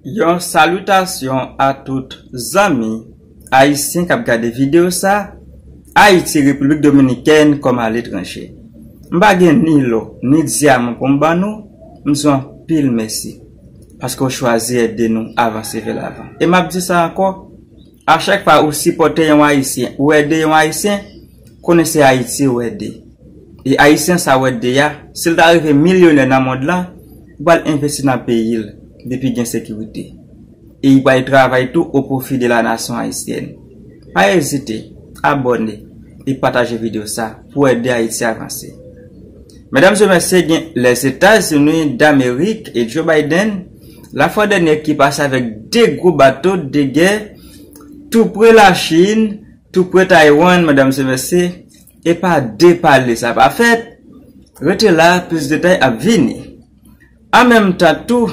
Yon salutasyon a tout zanmi ayisyen kap gade video sa ayiti repiblik dominikèn kòm aletranje m pa gen ni lò ni dyaman pou m ban nou m di w anpil mèsi paske w chwazi ede nou avanse vè lavan e map di sa ankò A chak fwa ou sipòte yon ayisyen ou ede yon ayisyen konnen se ayiti ou ede e ayisyen sa ou ede ya sil ta rive milyonè nan mond lan li pral envesti nan peyil depi gen sekirite e li pral travay tou o profi de la nasyon ayisyèn pa ezite abòne e pataje video sa pou ede ayiti avanse medam se mesye gen lèzetazini damerik e joe biden. La fwa dènyè ki pase avèk 2 gwo bato de gè tou pre la Chin, tou pre Taiwan madam sevèse e pa de pale sa pa fèt, rete la plis detay ap vini. An menm tan tou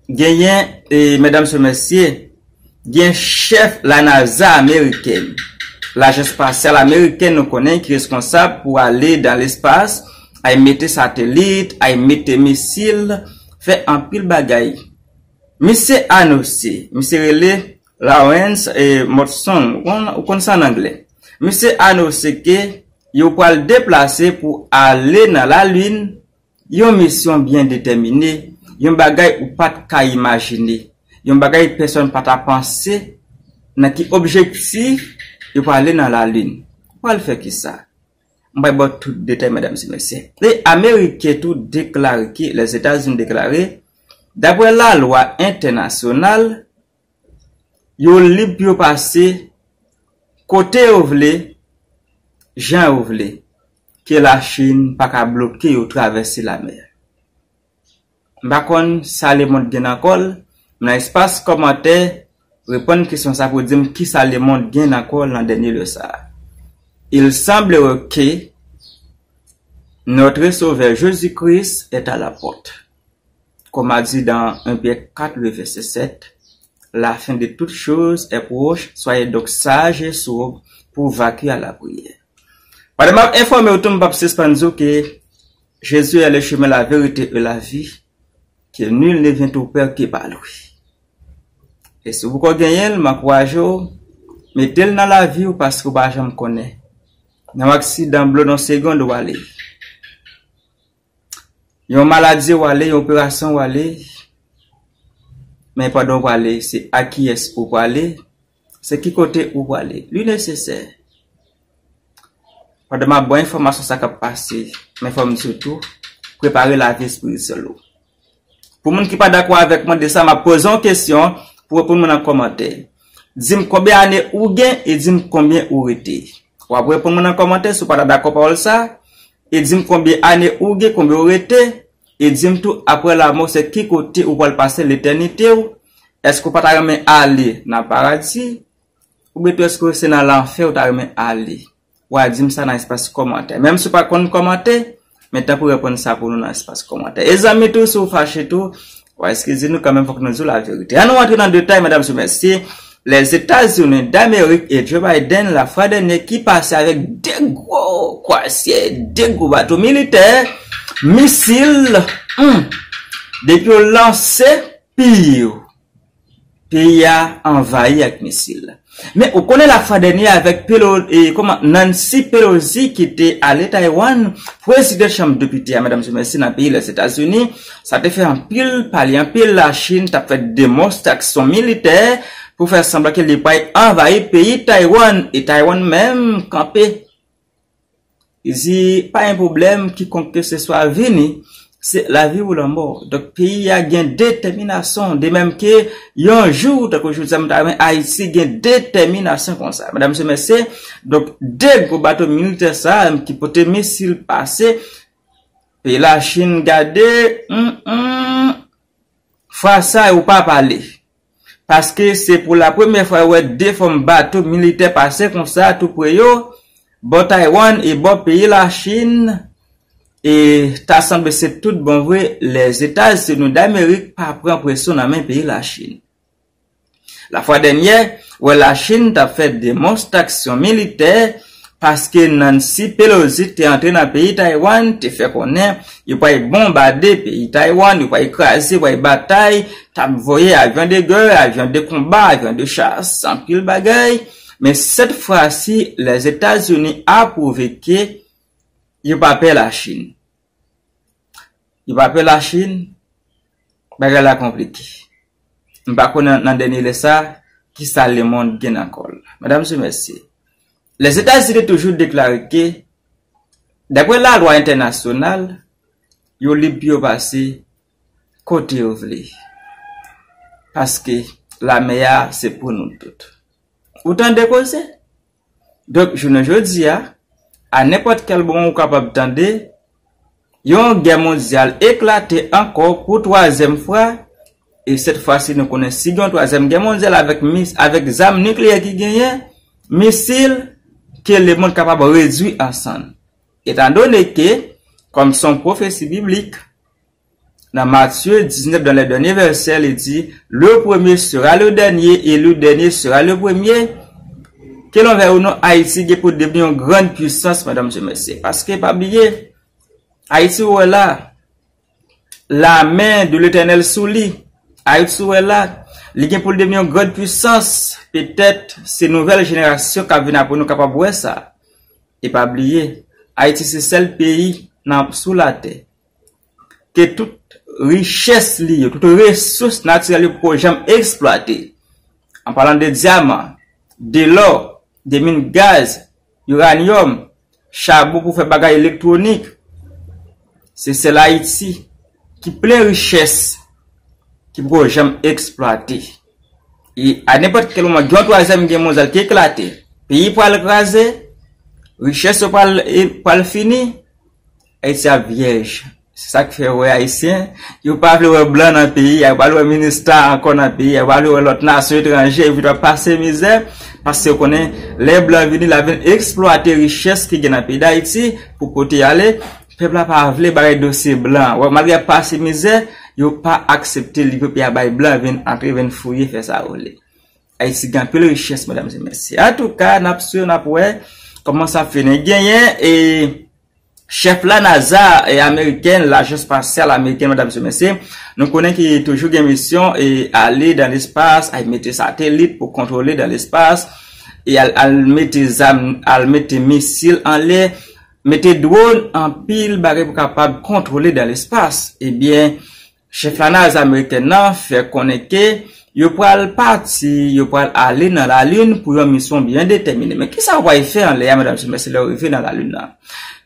genyen e madam sevèse. Gen chèf la NASA amerikèn, lajans spasyal amerikèn nou konnen ki responsab pou ale dan lespas, ay mete satelit, ay mete misil, fè anpil bagay. Misye anose, misye rele Lawrence E. Motson, ou konn sa an angle. Misye anose ke yo pral deplase pou ale nan lalin, Yon misyon byen detèmine, yon bagay ou pa t ka imajine, yon bagay pèsonn pa ta panse, nan ki objektif yo prale nan lalin? Ou pral fè kisa? M pral ba w tout detay medam e mesye. E ameriken tou deklare ke Lèzetazini deklare, daprè lalwa entènasyonal, Yo lib pou yo pase kote yo vle, jan yo vle, ke la Chin pa ka bloke yo travèse la mè. M pa konn sa le mond gen nan kòl, m nan espas kòmantè reponn kesyon sa pou dim kisa le mond gen nan kòl nan dènye lè sa. Il semblerait que notre Sauveur Jésus-Christ est à la porte. Kòm a di dans 1 Pyè 4 le vèsè 7, La fen de tout choz è pwoch, swaye donk saj e sob pou w vakye a lapriyè. Pandan m ap enfòme w tou m p ap sispann di w ke Jezi è le chemen la verite e la vi, ke nul ne vient au Père que par lui. E si w poko genyen l, m ankouraje w, mete l nan lavi w paske w pa janm konnen nan yon aksidan blon nan segond ou ale. Yon maladie ou ale, yon operasyon ou ale, men pandan ou prale, se a kiyès ou prale, se ki kote ou prale. Li nesesè, pandan map bay enfòmasyon sa kap pase, men fòm di ou tou, prepare lavi espirityèl ou. Pou moun ki pa dakò avèk mwen de sa map poze yon kesyon pou reponn mwen nan kòmantè. Dim konbyen ane ou gen e dim konbyen ou rete. Wap reponn mwen nan kòmantè si w pa ta dakò pawòl sa e dim konbyen ane ou gen konbyen ou rete e dim tou aprè lamò se ki kote ou pwal pase letènite w èske ou pa ta renmen ale nan paradi oubyen tou èske se nan lanfè ou ta renmen ale. Wa dim sa nan espas komantè. Menm si w pa konn komante, men tan pou reponn sa pou nou nan espas komantè. E zanmi tou si w fache tou, wa eskize nou kanmenm fok nou di w la verite. An nou antre nan detay medam sou mesye, Lèzetazini damerik e Joe Biden la fwa dènye ki pase avèk 2 gwo kwasye, 2 gwo bato militè, misil, humm, depi yo lanse, piiw. Peyi a anvayi ak misil. Men ou konnen la fwa dènye avèk Nancy Pelosi ki te ale Taiwan, pwezidan chanm depite a Madam Schumer nan peyi Lèzetazini, sa te fè anpil pale, anpil la Chin tap fè demonstraksyon militè pou fè sanblan ke li pway anvayi peyi Taiwan e Taiwan menm kanpe Zi pa gen pwoblèm kikonk keseswa vini se lavi ou lanmò donk peyi a gen detèminasyon de menm ke yon jou tankou jodi a m ta renmen Ayiti gen detèminasyon konsa medam mesye mesye donk de gwo bato militè sa a ki pote misil pase peyi lachin gade humm humm fwa sa yo pa pale. paske se pou la premyè fwa yo wè 2 fòm bato militè pase konsa tou pre yo, bò Taiwan e bò peyi la Chin, e ta sanble se tout bon vre Lèzetazini Damerik pa pran presyon nan men peyi la Chin. La fwa dènyè, wè la Chin tap fè demonstaksyon militè, paske Nancy Pelosi te antre nan peyi Taiwan te fè konnen yo pway bonbade peyi Taiwan, yo pway kraze, pway batay, tap voye avyon de gè, avyon de konba, avyon de chas, anpil bagay, men sèt fwa si Lèzetazini a pwouve ke yo pa pè la Chine. Yo pa pè la chine, bagay la konplike. M pa konnen nan dènye lè sa ki sa le mond gen nan kòl. Medam se mesye, Lèzetazini toujou deklare ke dapre la lwa entènasyonal, yo lib pou yo pase kote yo vle. Paske la mè a se pou nou tout. Ou tande koze? Donk, jounen jodi a, a nenpòt kèl moman ou kapab tande yon gè mondyal eklate ankò pou twazyèm fwa, e sèt fwa si nou konnen si gen yon twazyèm gè mondyal avèk mis, avèk zam nikleyè ki genyen, misil, ke lemond kapab redui an sann. Etandone ke, kòm se yon pwofesi biblik, Nan Matye 19 dan lè dènye vèsè li di, le premye sera le dènye e le dènye sera le premye, ke lon vèy ou non Ayiti gen pou devni yon grann pwisans medam mesye mesye, paske pa bliye Ayiti ou wè la, la men de letènèl sou li, Ayiti ou wè la, li gen pou li devni yon grann pwisans, petèt se nouvèl jenerasyon kap vini apre nou kapab wè sa, e pa bliye Ayiti se sèl peyi nan sou latè. ke tout richès li yo, tout resous natirèl yo poko janm eksplwate, an palan de dyaman, de lò, de min gaz, uranium, chabon pou fè bagay elektwonik, se sèl Ayiti ki plen richès ki poko janm eksplwate. E a nenpòt kèl moman gen yon twazyèm gè mondyal ki eklate, peyi pral kraze, richès yo pral fini, Ayiti ap vyèj. Se sa k fè ou wè Ayisyen, yo pa vle wè blan nan peyi a, yo pa vle wè minista ankò nan peyi a, yo pa vle wè lòt nasyon etranje, epi tou ap pase mizè, paske yo konnen lè blan vini, l ap vin eksplwate richès ki gen nan peyi Dayiti pou pote y ale. Pèp la pa vle bare dosye blan an. Wè, malgre y ap pase mizè, yo pa aksepte liv yo pi a bay blan vin antre, vin fouye, fè sa yo vle. Ayiti gen anpil richès, medam e mesye. Antouka, n ap swiv, n ap wè kòman sa ap fini. Genyen e. Chèf la NASA e amerikèn, lajans spasyal amerikèn medam se mesye, nou konnen ki toujou gen misyon e ale dan lespas, al mete satelit pou kontwole dan lespas, e al mete zam, al mete misil anlè, mete dwon, anpil bagay pou kapab kontwole dan lespas. Ebyen. Chèf lanaz amerikèn nan fè konnen ke yo pral pati, yo pral ale nan lalin pou yon misyon byen detèmine. Men kisa yo pral fè anlè a medam se mesye lè yo rive nan lalin nan?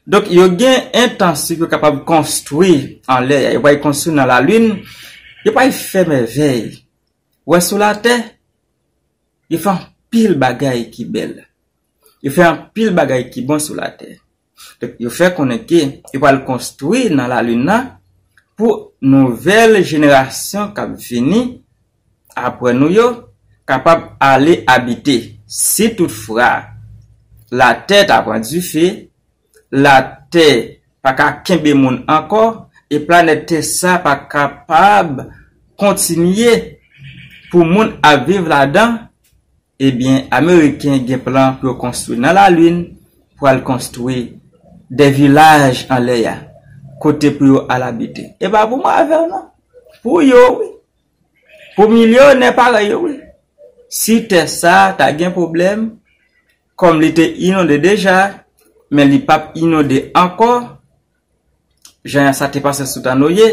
Donk yo gen entansyon pou yo kapab konstwi anlè a, yo pral konstwi nan lalin, yo pral fè mèvèy. Ou wè sou latè, yo fè anpil bagay ki bèl, yo fè anpil bagay ki bon sou latè. Donk yo fè konnen ke yo pral konstwi nan lalin nan pou nouvèl jenerasyon k ap vini apre nou yo kapab ale abite. Si tout fra latè ta pran dife, latè pa ka kenbe moun ankò e planèt tè sa pa kapab kontinye pou moun ap viv ladan. Ebyen ameriken gen plan pou yo konstwi nan la lune pou al konstwi de vilaj anlè ya kote pou yo al abite epa pou mwen avèw non pou yo wi pou milyonè parèy yo wi si tè sa ta gen pwoblèm kòm li te inonde deja men li pap inonde ankò Jan sa te pase sou tan Noye,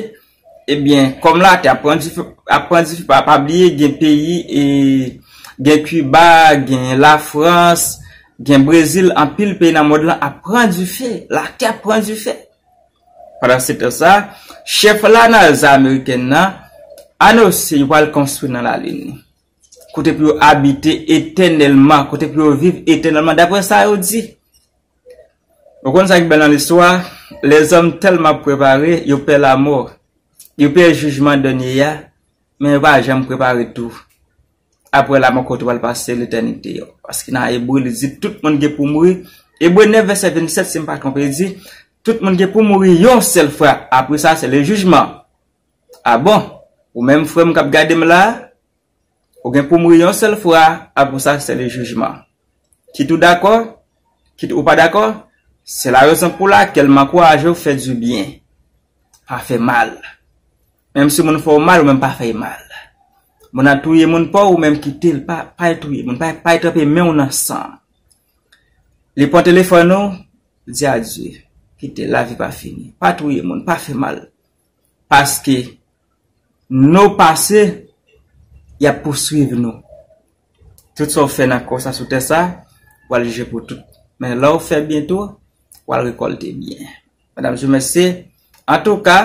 ebyen, kòm latè ap pran dife, ap pran dife, pa, pa bliye gen peyi, e, gen Kiba, gen Lafrans, gen Brezil, anpil peyi nan mond lan ap pran dife, latè ap pran dife. Pandan se tan sa, chèf la NASA amerikèn nan anonse yo pral konstwi nan Lalin, kote pou yo abite etènèlman, kote pou yo viv etènèlman, dapre sa yo di. Ou konn sa ki bèl nan listwa? Lèzòm tèlman ap prepare, yo pè lamò, yo pè jijman dènye a, men yo pa janm prepare tou apre lamò kote yo pral pase letènite yo. Paske nan Ebre li di tout moun gen pou mouri, Ebre 9 vèsè 27 si m pa twonpe di, tout moun gen pou mouri yon sèl fwa apre sa se le jijman. A bon, ou menm frè m k ap gade m la a? Ou gen pou mouri yon sèl fwa, apre sa se le jijman. Kit ou dakò, kit ou pa dakò, se la rezon pou lakèl m ankouraje w fè di byen. Pa fè mal. Menm si moun fè w mal, ou menm pa fè y mal. Moun ap touye moun pa w, ou menm kite l, pa, pa y touye moun, pa y, pa y tranpe men w nan san. Li pran telefòn ou, di adye. Kite l, lavi pa fini. Pa touye moun, pa fè mal. Paske nou pase, y ap pouswiv nou. Tout sa w fè nan kò sa sou tè sa, w al jije pou tout. Men lè w fè byen tou, w al rekòlte byen. Medamzye mesye, antouka,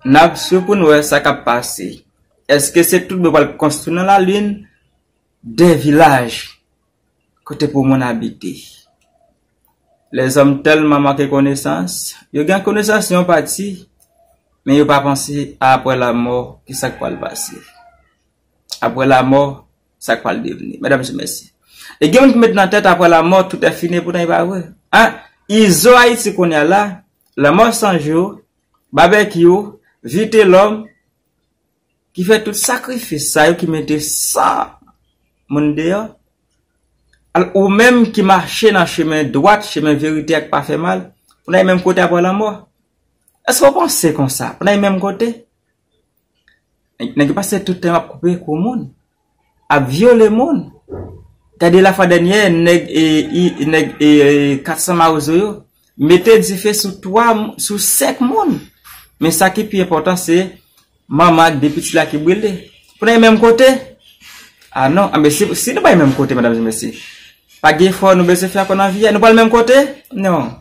n ap swiv pou n wè sa k ap pase. Èske se tout bon yo pral konstwi nan lalin 2 vilaj? Kote pou moun abite. Lèzòm tèlman manke konesans, yo gen konesans yon pati, men yo pa panse a apre lamò ki sa k pral pase. Apre lamò, sa k pral devni. Medamzi mèsi. E gen moun ki met nan tèt apre lamò tout è fini epoutan e pa vre. A, izo Ayiti kounya la, lanmò san jou, babekyou, vitelòm, ki fè tout sakrifis sa yo, ki mete san moun deyò, al ou menm ki mache nan chemen dwat, chemen verite ak pa fè mal, pou n al menm kote apre lanmò? Èske ou panse konsa? Pou n al menm kote? Nèg yo pase tout tan yo ap koupe kou moun. ap vyole moun gade la fwa dènyè nèg nèg 400 mawozo yo mete dife sou 3 sou 5 moun men sa ki pi enpòtan se manman ak 2 pitit la ki brile pou nan yon menm kote a non anben si nou pa yon menm kote medam e mesye pa gen efò nou bezwen fè ankò nan vi a nou pral menm kote non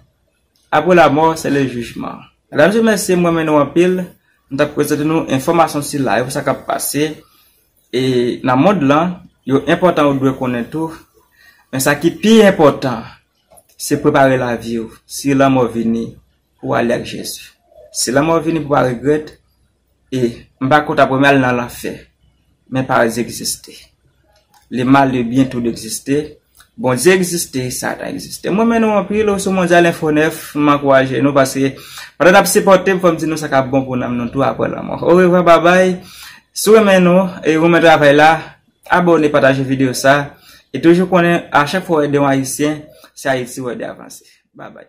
apre la mò se le jijman medam e mesye m renmen nou anpil m tap prezante nou enfòmasyon sila yo pou sa kap pase. E nan mond lan, yo enpòtan ou dwe konnen tou, men sa ki pi enpòtan, se prepare lavi ou, si lanmò vini, pou ale ak Jezi. Si lanmò vini pou pa regrèt, e, m pa kont aprè m al nan lanfè, men paradi egziste. Le mal le byen tou de egziste, Bondye egziste, satan egziste. M renmen nou anpil ou sou Mondyal Enfo 9, m ankouraje nou pase pandan nap sipòte m fòm di nou sa kap bon pou nanm nou tou aprè lanmò. Orevwa babay, si w renmen nou e ou renmen travay la, abòne pataje videyo sa e toujou konnen a chak fwa w ede yon ayisyen se Ayiti w ede avanse. Babay.